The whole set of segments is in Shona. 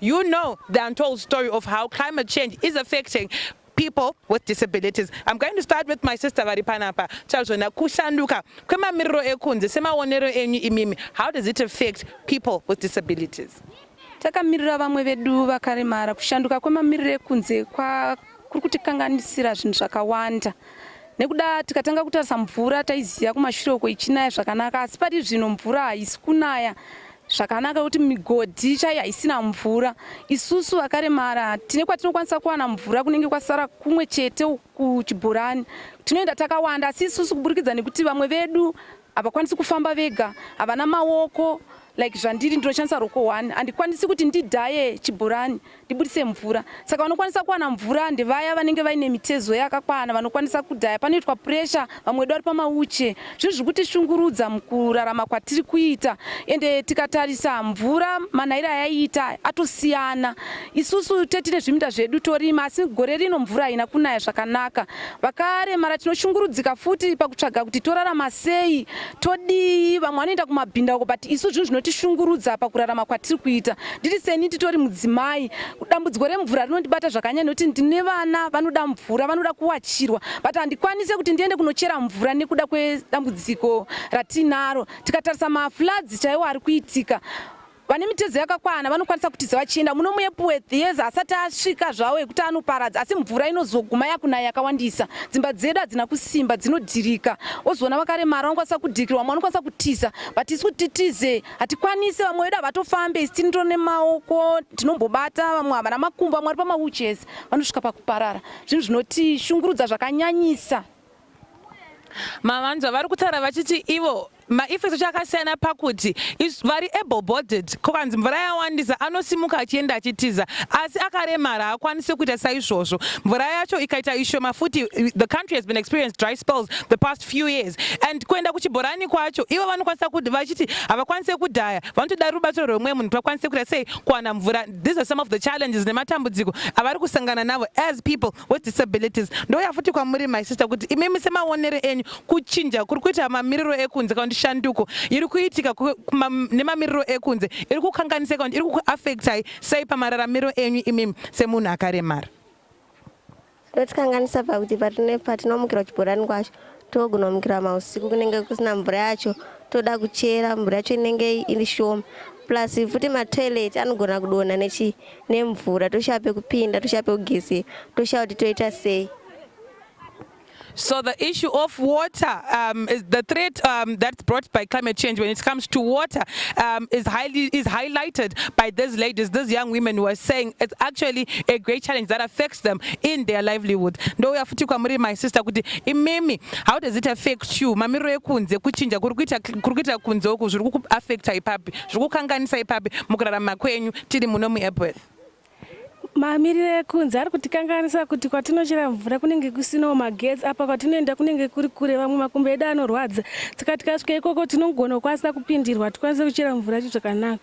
You know the untold story of how climate change is affecting people with disabilities. I'm going to start with my sister vari panapa. Tazvona kushanduka kwemamiriro ekunze semaonero enyu imimi. How does it affect people with disabilities? Takamirira vamwe vedu vakaremara kushanduka kwemamiriro ekunze kwa kuri kutikanganisira zvinhu zvakawanda nekuda tikatanga kutarisa mvura taiziva kumashure uko ichinaya zvakanaka asi pari zvino mvura haisi kunaya zvakanaka kuti migodhi chaiyo haisina mvura isusu vakaremara tine kwatinokwanisa kuwana mvura kunenge kwasara kumwe chete kuchibhorani tinoenda takawanda asi isusu kuburikidza nekuti vamwe vedu Havakwanisi kufamba vega, havana maoko like zvandiri ndinoshandisa roko one handikwanisi kuti ndidhaye chibhorani ndibudise mvura saka vanokwanisa kuwana mvura ndevaya vanenge vaine mitezo yakakwana vanokwanisa kudhaya panoitwa puresha vamwe vedu vari pamauche zvinhu zviri kutishungurudza mukurarama kwatiri kuita ende tikatarisa mvura manhairo ayaiita atosiyana isusu tetine zviminda zvedu torima asi gore rino mvura haina kunaya zvakanaka Vakaremara tinoshungurudzika futi pakutsvaga kuti torarama sei, todii. Vamwe vanoenda kumabhindauko but isu zvinhu zvinotishungurudza pakurarama kwatiri kuita. Ndiri seni titori mudzimai, dambudziko remvura rinondibata zvakanyanya nekuti ndine vana vanoda mvura, vanoda kuwachirwa but handikwanise kuti ndiende kunochera mvura nekuda kwedambudziko ratinaro. Tikatarisa mafloods chaiwo ari kuitika Vane mitezo yakakwana vanokwanisa kutiza vachienda muno muEpworth yes asati asvika zvawo ekuti anoparadza asi mvura inozoguma yakunaya yakawandisa dzimba dzedu hadzina kusimba dzinodhirika wozoona vakaremara vanokwanisa kudhikirwa vamwe vanokwanisa kutiza but isu kuti titize hatikwanise vamwe vedu havatofambe isi tini tone maoko tinombobata vamwe havana makumbo vamwe vari pamawuches vanosvika pakuparara zvinhu zvinotishungurudza zvakanyanyisa mavanzwa vari kutaura vachiti ivo maeffects acho akasiyana pakuti vari able bodied ko kanzi mvura yawandisa anosimuka achienda achitiza asi akaremara haakwanise kuita saizvozvo mvura yacho ikaita ishoma futi the country has been experienced dry spells the past few years and kuenda kuchibhorani kwacho ivo vanokwanisa kuti vachiti havakwanise kudhaya vanotoda rubatsiro rwemwe munhu kuti vakwanise kuita sei kuwana mvura these are some of the challenges nematambudziko avari kusangana navo as people with disabilities ndouya futi kwamuri my sister kuti imimi semaonere enyu kuchinja kuri kuita mamiriro ekunze kana kuti shanduko iri kuitika nemamiriro ekunze iri kukanganisa kana kuti iri kukuaffectai sei pamararamiro enyu imimi semunhu akaremara inotikanganisa pakuti patinomukira kuchibhorani kwacho Togona kumukira mausiku kunenge kusina mvura yacho toda kuchera mvura yacho inenge iri shoma plus futi matoilet anogona kudonha nechi nemvura toshaya pekupinda toshaya pekugezera toshaya kuti toita sei So the issue of water um, is the threat um, that's brought by climate change when it comes to water um, is highly is highlighted by these ladies, these young women who are saying it's actually a great challenge that affects them in their livelihood. Ndouya futi kwamuri my sister kuti imimi how does it affect you mamiriro ekunze kuchinja kuri kuita kunze uku zviri kukuaffecta ipapi zviri kukanganisa ipapi mukurarama kwenyu tiri muno muepworth mamiriro ekunze ari kutikanganisa kuti kwatinochera mvura kunenge kusinawo magetsi apa kwatinoenda kunenge kuri kure vamwe makumbo edu anorwadza saka tikasvika ikoko tinogona kukwanisa kupindirwa tikwanise kuchera mvura yacho zvakanaka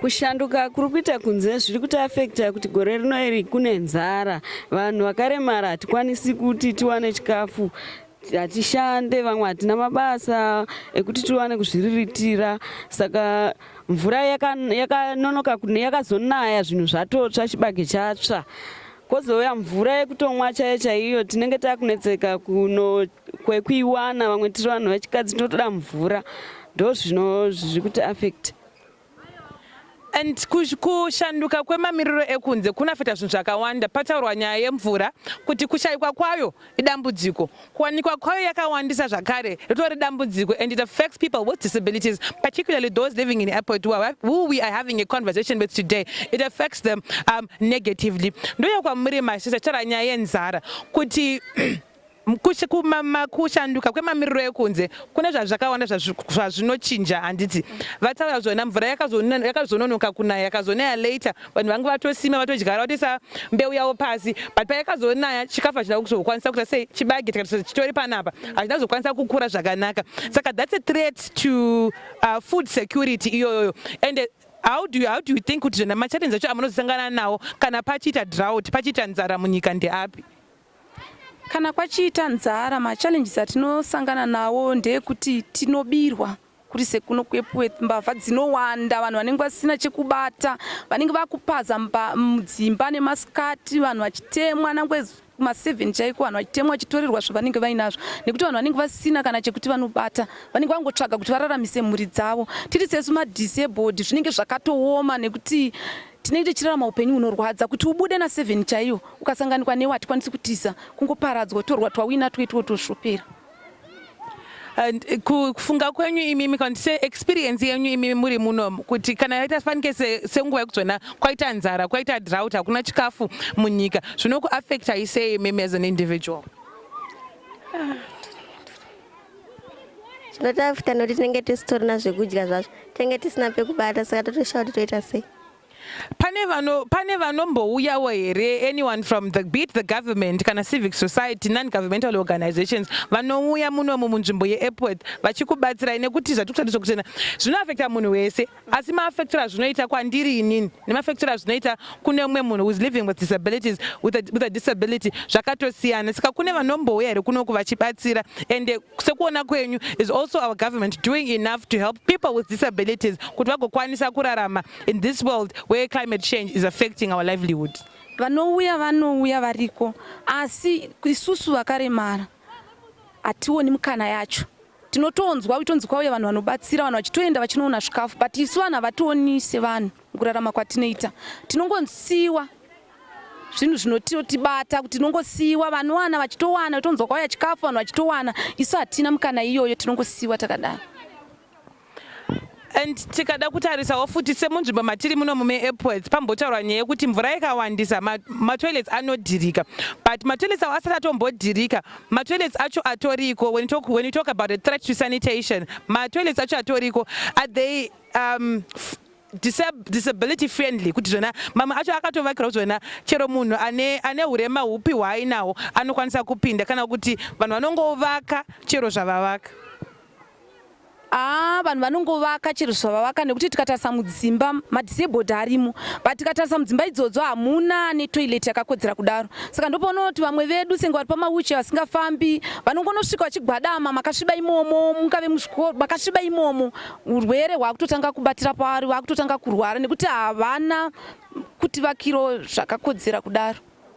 Kushanduka kuri kuita kunze zviri kuti afekta kuti gore rino iri kune nzara. Vanhu vakaremara hatikwanisi kuti tiwane chikafu hatishande vamwe hatina mabasa ekuti tiwane kuzviriritira saka mvura yakanonoka yaka yakazonaya zvinhu zvatotsva chibage chatsva kozouya mvura yekutomwa chaiyo chaiyo tinenge takunetseka kuno kwekuiwana vamwe tiri vanhu vechikadzi tinotoda mvura ndozvino zviri kuti affect and kushanduka kwemamiriro ekunze kunafeta zvinhu zvakawanda pataurwa nyaya yemvura kuti kushayikwa kwayo idambudziko kuwanikwa kwayo yakawandisa zvakare ritori dambudziko and it affects people with disabilities particularly those living in airport who we are having a conversation with today it affects them um, negatively ndoyo kwamuri masisa taura nyaya yenzara kuti Kushanduka kwemamiriro ekunze kune zvazvakawanda zvazvinochinja handiti vataura zvona mvura yakazononoka kunaya yakazonaya later vanhu vange vatosima vatodyara vatoisa mbeu yavo pasi but payakazonaya chikafu hachina kuzokwanisa kuita sei chibage tikati chitori panapa hachina kuzokwanisa kukura zvakanaka saka that's a threat to uh, food security iyoyoyo and how do you, how do you think kuti zvona machallenji acho amunozosangana nawo kana pachiita drought pachiita nzara munyika ndeapi Kana kwachiita nzara machallenges atinosangana nawo ndeekuti tinobirwa kuri sekuno kweEpworth mbavha dzinowanda vanhu vanenge vasina chekubata vanenge vakupaza mudzimba nemasikati vanhu vachitemwa nangwe kuma 7 chaiko vanhu vachitemwa vachitorerwa zvavanenge vainazvo nekuti vanhu vanenge vasina kana chekuti vanobata vanenge vangotsvaga kuti vararamise mhuri dzavo tiri sesu madisabled zvinenge zvakatooma nekuti Tinenge tichirarama upenyu hunorwadza kuti ubude na 7 chaiyo ukasanganikwa newe hatikwanisi kutiza kungoparadzwa torwa twawina twaitwo toshopera And eh, ku- kufunga kwenyu imimi kana kuti se experience yenyu imimi muri muno kuti kana yaita fanike se- senguva yekudzona kwaita nzara kwaita drought hakuna chikafu munyika zvinokuaffectai sei imimi as an individual zvino tafuta nokuti tinenge tisitorina zvekudya zvazvo tinenge tisina pekubata saka totoshaya kuti toita sei pane vano pane vanombouyawo here anyone from the beat the government kana civic society non governmental organizations vanouya munomu munzvimbo yeepworth vachikubatsirai nekuti zvatikutarisa kuchena zvinoafekta munhu wese asi maafector azvinoita kwandiri inini nemafector azvinoita kune umwe munhu whois living with disabilities with a, with a disability zvakatosiyana saka kune vanombouya here kunoku vachibatsira and sekuona kwenyu is also our government doing enough to help people with disabilities kuti vagokwanisa kurarama in this world where climate change is affecting our livelihood vanouya vanouya variko asi isusu vakaremara hationi mukana yacho tinotonzwa uchitonzi kwauya vanhu vanobatsira vanhu vachitoenda vachinoona zvikafu but isu vanhu havationi sevanhu mukurarama kwatinoita tinongosiiwa zvinhu zvinotibata kuti tinongosiiwa vanowana vachitowana utonzwa kwauya chikafu vanhu vachitowana isu hatina mukana iyoyo tinongosiiwa takadaro And tikada kutarisawo futi semunzvimbo matiri muno mume airports pambotaurwa nyaya yekuti mvura ikawandisa matoilets ma anodhirika but matoilets awo asati atombodhirika matoilets acho atoriko when you talk, when you talk about a threat to sanitation matoilets acho atoriko are they um, disability friendly kuti zvona mamwe acho akatovakirwa kuti zvona chero munhu ane ane hurema hupi hwaainawo anokwanisa kupinda kana kuti vanhu vanongovaka chero zvavavaka Haa vanhu vanongovaka chero zvavavaka nekuti tikatarisa mudzimba madisabled arimo but tikatarisa mudzimba idzodzo hamuna netoilet yakakodzera kudaro saka ndopoonawo kuti vamwe vedu senge vari pamawuche vasingafambi vanongonosvika vachigwadama makasviba imomo mungave muzvikoro makasviba imomo urwere hwakutotanga kubatira pavari vakutotanga kurwara nekuti havana kutivakiro zvakakodzera kudaro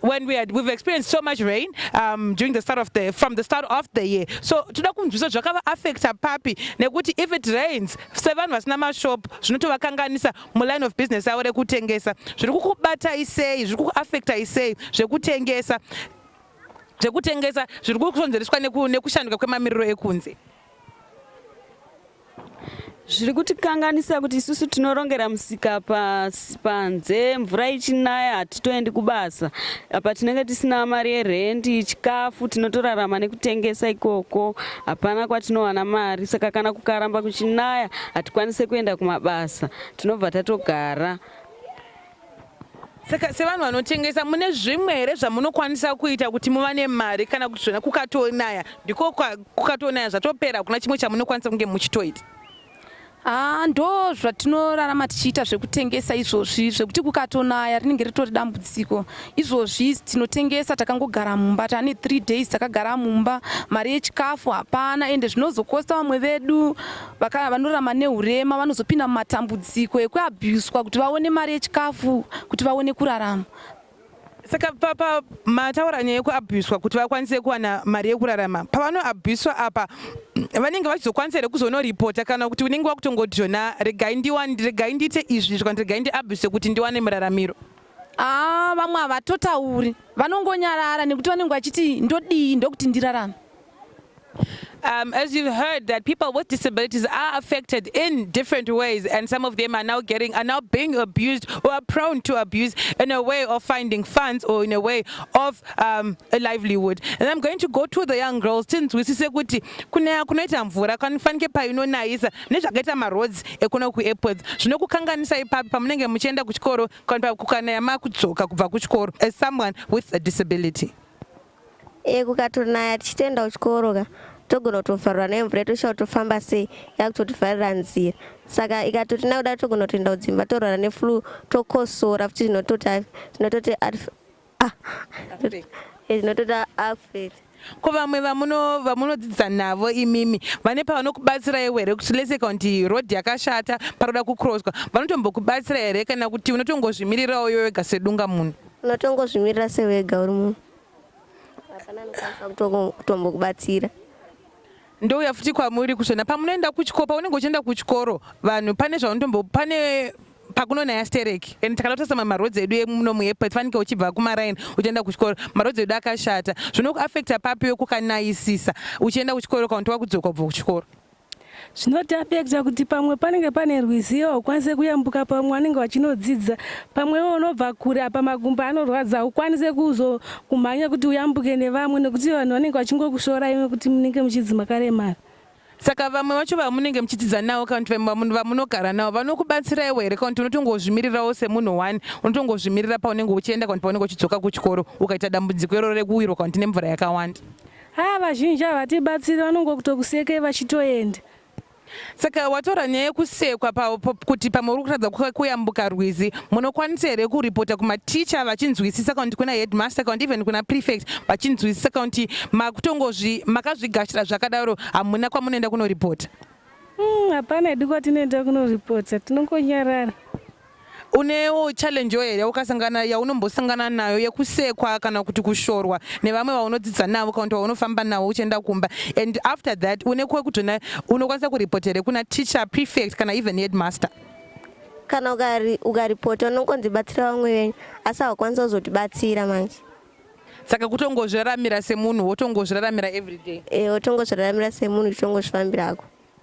when we had we've experienced so much rain um, during the start of the from the start of the year so toda kunzwisa zvakava affecta papi nekuti if it rains sevanhu vasina mashop zvinotovakanganisa muline of business avo rekutengesa zviri kukubatai sei zviri kukuaffectai sei zvekutengesa zvekutengesa zviri kukonzereswa nekushanduka kwemamiriro ekunze zviri kutikanganisa kuti isusu tinorongera musika pasi panze mvura ichinaya hatitoendi kubasa apa tinenge tisina mari yerendi chikafu tinotorarama nekutengesa ikoko hapana kwatinowana mari saka kana kukaramba kuchinaya hatikwanise kuenda kumabasa tinobva tatogara Saka sevanhu vanotengesa mune zvimwe here zvamunokwanisa kuita kuti muvane mari kana kuti zvona kukatonaya ndiko kukatonaya zvatopera hakuna chimwe chamunokwanisa kunge muchitoita? Ah, ndo zvatinorarama tichiita zvekutengesa izvozvi zvekuti kukatonaya rinenge ritori dambudziko izvozvi tinotengesa takangogara mumba tane three days takagara mumba mari yechikafu hapana ende zvinozokosta vamwe vedu vakaya vanorama neurema vanozopinda mumatambudziko ekuabhuswa kuti vaone mari yechikafu kuti vaone kurarama saka papa mataura nyaya yekuabhuswa kuti vakwanise kuwana mari yekurarama pavanoabhuswa apa vanenge vachizokwanisa here kuzonoripota kana kuti unenge wakutongodhona regai ndiwani regai ndiite izvi izvi kana regai ndiabhuse kuti ndiwane muraramiro aa ah, vamwe havatotauri vanongonyarara nekuti vanenge vachiti ndodii ndokuti ndirarame Um, as you've heard that people with disabilities are affected in different ways and some of them are now getting are now being abused or are prone to abuse in a way of finding funds or in a way of um, a livelihood and I'm going to go to the young girls tinzwisise kuti kunaya kunoita mvura kanifanike painonayisa nezvakaita maroads ekuno kuairports zvinokukanganisa ipapi pamunenge muchienda kuchikoro kana kukanaya makudzoka kubva kuchikoro as someone with a disability Eh kukatonaya tichitoenda kuchikoro ka togona kutovharwa nemvura yetosha kutofamba sei yakutotivharira nzira saka ikatotina kudai togona kutoenda kudzimba torwara neflu tokosora futi zvinototi zvinototi ah, eh, zvinototi affect ko vamwe vamunodzidzisa navo imimi vane pavanokubatsira iwe here kuti lese kakuti road yakashata paroda kucrosswa vanotombokubatsira here kana kuti unotongozvimirirawo iwe wega sedunga munhu Unotongozvimirira sewega uri munhu. Hapana anokwanisa kutoko- kutombokubatsira. ndouya futi kwamuri kuzvona pamunoenda kuchikoro paunenge uchienda kuchikoro vanhu pane zvaunotombo pane pakunonaya stereki and takada kutarisa mamwe maroads edu emuno muepet fanike uchibva kumaraini uchienda kuchikoro maroads edu akashata zvinokuaffecta papi wekukanayisisa uchienda kuchikoro kana kuti wakudzoka kubva kuchikoro Zvinotapekja kuti pamwe panenge pane rwizi iwe haukwanise kuyambuka pamwe vanenge vachinodzidza pamwe iwe unobva kure apa makumbo anorwadza haukwanise kuzo kumhanya kuti uyambuke nevamwe nekuti vanhu vanenge vachingokushorai nekuti munenge muchidzi makaremara. Saka vamwe vacho vamunenge muchidzidza navo kana kuti vamwe vamunogara navo vanokubatsiraiwo here kana kuti unotongozvimirirawo semunhu one unotongozvimirira paunenge uchienda kana kuti paunenge uchidzoka kuchikoro ukaita dambudziko iroro rekuwirwa kana kuti nemvura yakawanda? Haa vazhinji havatibatsiri vanongokutokusekei vachitoenda. Saka wataura nyaya yekusekwa kuti pamwe uri kutadza kuyambuka rwizi, munokwanisa here kuripota kumaticha vachinzwisisa kana kuti kuna headmaster kana kuti even kuna prefect vachinzwisisa kana kuti makutongozvi makazvigashira zvakadaro hamuna kwamunoenda kunoripota? Hmm, hapana mm, hedu kwatinoenda kunoripota tinongonyarara. Unewo challenge here yaukasangana yaunombosangana nayo yekusekwa kana kuti kushorwa nevamwe vaunodzidza navo kana kuti vaunofamba navo uchienda kumba and after that une kwekutona unokwanisa kuripota here kuna teacher prefect kana even headmaster kana ukaripota unongonzi batsira vamwe venyu asi hawakwanisa kuzotibatsira manje saka kutongozviraramira semunhu wotongozviraramira everyday e eh, wotongozviraramira semunhu uchitongozvifambirako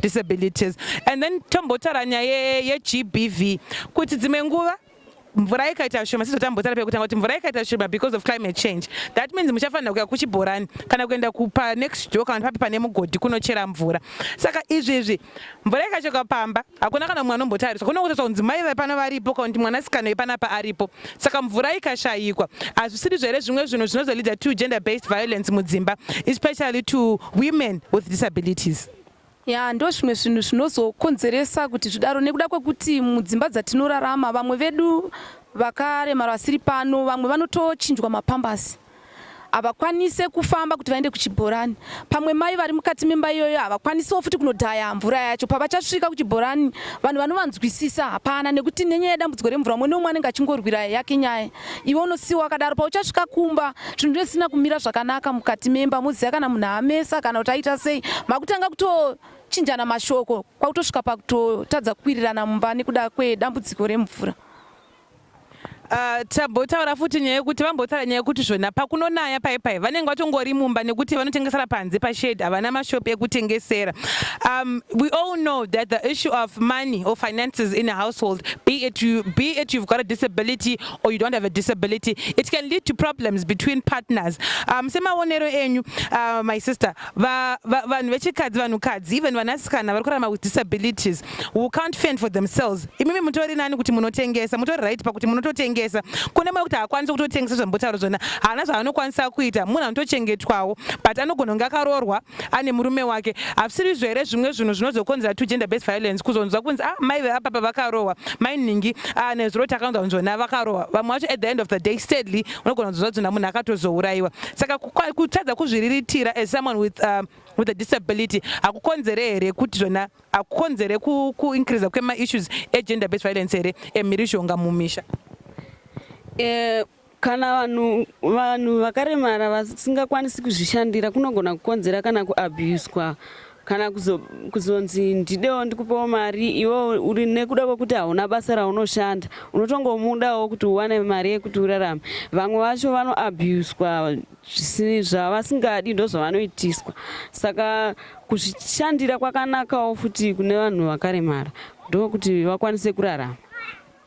disabilities and then tombotaura nyaya yegbv kuti dzimwe nguva mvura ikaita shoma sizotambotaura pekutanga kuti mvura ikaita shoma because of climate change that means muchafanira kuya kuchibhorani kana kuenda kupa next door kana papi pane mugodhi kunochera mvura saka izvi izvi mvura ikachoka pamba hakuna kana mumwe anombotariswa kuno kutosa kunzi mai vepano varipo kana kuti mwanasikana wepanapa aripo saka mvura ikashayikwa hazvisiri zvere zvimwe zvinhu zvinozolida to gender based violence mudzimba especially to women with disabilities ya ndozvimwe zvinhu zvinozokonzeresa kuti zvidaro nekuda kwekuti mudzimba dzatinorarama vamwe vedu vakaremara vasiri pano vamwe vanotochinjwa mapambasi havakwanise kufamba kuti vaende kuchibhorani pamwe mai vari mukati memba iyoyo havakwanisewo futi kunodhaya mvura yacho pavachasvika kuchibhorani vanhu vanovanzwisisa hapana nekuti nenyaya yedambudziko remvura umwe neumwe anenge achingorwira yake nyaya iwe unosiwa wakadaro pauchasvika kumba zvinhu zvisina kumira zvakanaka mukati memba muziva kana munhu amesa kana kuti aita sei makutanga kutochinjana mashoko kwakutosvika pakutotadza kukwirirana mumba nekuda kwedambudziko remvura Uh, tambotaura futi nyaya yekuti vambotaura nyaya yekuti zvona pakunonaya pai pai vanenge vatongori mumba nekuti vanotengesera panze pashed havana mashop ekutengesera um, we all know that the issue of money or finances in a household be it you be it you've got a disability or you don't have a disability it can lead to problems between partners um, semaonero enyu uh, my sister vanhu vechikadzi vanhukadzi even vanasikana vari kurarama with disabilities who can't fend for themselves imimi mutori nani kuti munotengesa mutori right pakuti munototengesa kune mwe kuti haakwanisi kutotengesa zvambotaura zvona haana zvaanokwanisa kuita munhu anotochengetwawo but anogona kunge akaroorwa ane murume wake hazvisirizvo here zvimwe zvinhu zvinozokonzera to gender based violence kuzonzwa kunzi ah mai veapapa vakarohwa mai nhingi ah, nezuro takaunza kunzwa na vakarohwa vamwe vacho at the end of the day sadly unogona kunzwa kuti munhu akatozourayiwa saka kutadza kuzviriritira as someone with um, with a disability hakukonzere here kuti zvona hakukonzere kuincreasa ku kwemaissues egender based violence here emhirizhonga mumisha uh, Kana vanhu vanhu vakaremara vasingakwanisi kuzvishandira kunogona kukonzera kana kuabuswa kana kuzonzi ndidewo ndikupewo mari iwe uri nekuda kwekuti hauna basa raunoshanda unotongomudawo kuti uwane mari yekuti urarame vamwe vacho vanoabuswa zvavasingadi ndozvavanoitiswa saka kuzvishandira kwakanakawo futi kune vanhu vakaremara ndokuti vakwanise kurarama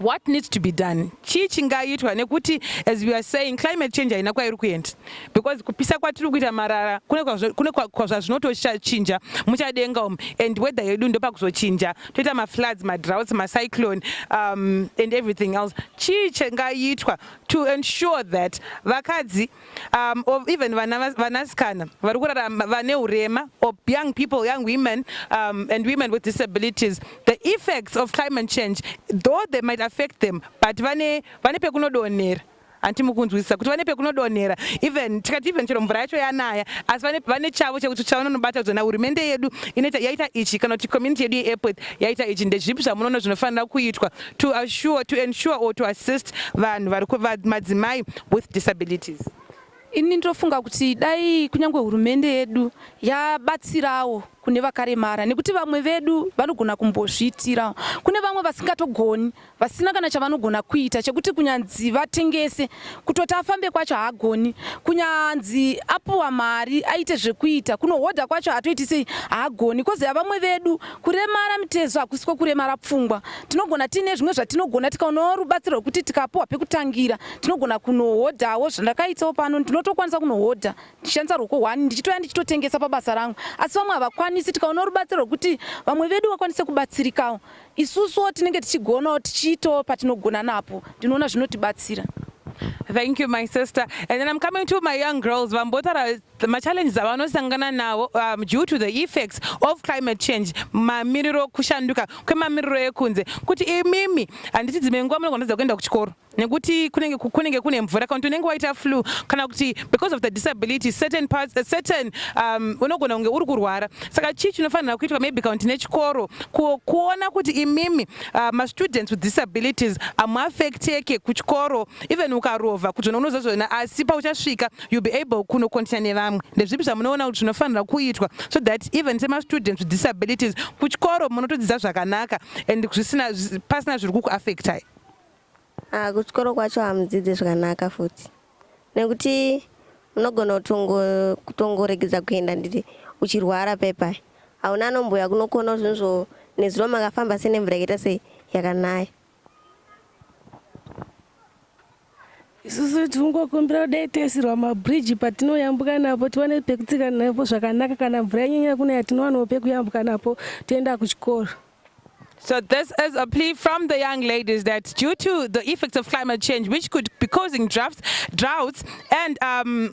what needs to be done chii chingaitwa nekuti as we are saying climate change haina kwairi kuenda because kupisa kwatiri kuita marara kune kwazvazvinotochinja muchadenga umu and weather yedu ndopakuzochinja toita mafloods madroughts macyclone um, and everything else chii chingaitwa to ensure that vakadzi um, or even vanasikana vari kurarama vane urema or young people young women um, and women with disabilities the effects of climate change though they might affect them but vane vane pekunodonhera hanti mukunzwisisa kuti vane pekunodonhera even tikati even chero mvura yacho yanaya asi vane chavo chekuti chavanonobata kuti na hurumende yedu inoita yaita ichi kana kuti community yedu yeairport yaita ichi ndezvipi zvamunoona zvinofanira kuitwa to assure to ensure or to assist vanhu vari madzimai with disabilities ini ndinofunga kuti dai kunyange hurumende yedu yabatsirawo kune vakaremara nekuti vamwe vedu vanogona kumbozviitirawo kune vamwe vasingatogoni vasina kana chavanogona kuita chekuti kunyanzi vatengese kutoti afambe kwacho haagoni kunyanzi apuwa mari aite zvekuita kunohodha kwacho hatoiti sei haagoni koziva vamwe vedu Kuremara mitezo hakusi kwokuremara pfungwa. Tinogona tiine zvimwe zvatinogona tikaonawo rubatsiro rwekuti tikapuhwa pekutangira tinogona kunohodhawo zvandakaitawo pano ndinotokwanisa kunohodha ndichishandisa ruoko hwani ndichitouya ndichitotengesa pabasa rangu asi vamwe havakwanisi tikaonawo rubatsiro rwekuti vamwe vedu vakwanise kubatsirikawo isusuwo tinenge tichigonawo tichiitawo patinogona napo ndinoona zvinotibatsira Thank you, my sister. And then I'm coming to my young girls. Vambotara The machallenges avanosangana nawo um, due to the effects of climate change mamiriro kushanduka kwemamiriro ekunze kuti imimi handiti dzimwe nguva munogonadza kuenda kuchikoro nekuti kunenge kunenge kune mvura kana kuti unenge waita flu kana kuti because of the disability certain parts uh, certain um, unogona kunge uri kurwara saka chii chinofanira kuitwa maybe kana kuti nechikoro kuona kuti imimi uh, mastudents with disabilities amuaffecteke kuchikoro even ukarova kuzvona unozozvona asi pauchasvika you'll be able kuno continue nevamwe ndezvipi zvamunoona kuti zvinofanira kuitwa so that even semastudents with disabilities kuchikoro munotodzidza zvakanaka and zvisina pasina zviri kukuaffectai ah, kuchikoro kwacho hamudzidzi zvakanaka futi nekuti unogona kutongoregedza kuenda nditi uchirwara pepa hauna anombuya kunokona zvinhu zvo nezuro makafamba senemvura yakaita sei yakanaya isusu tinongokumbira kudai toisirwa mabridge patinoyambuka napo tiwane pekutsika napo zvakanaka kana mvura yanyanya kunaya tinowanawo pekuyambuka napo toenda kuchikoro So this is a plea from the young ladies that due to the effects of climate change, which could be causing droughts, droughts and um,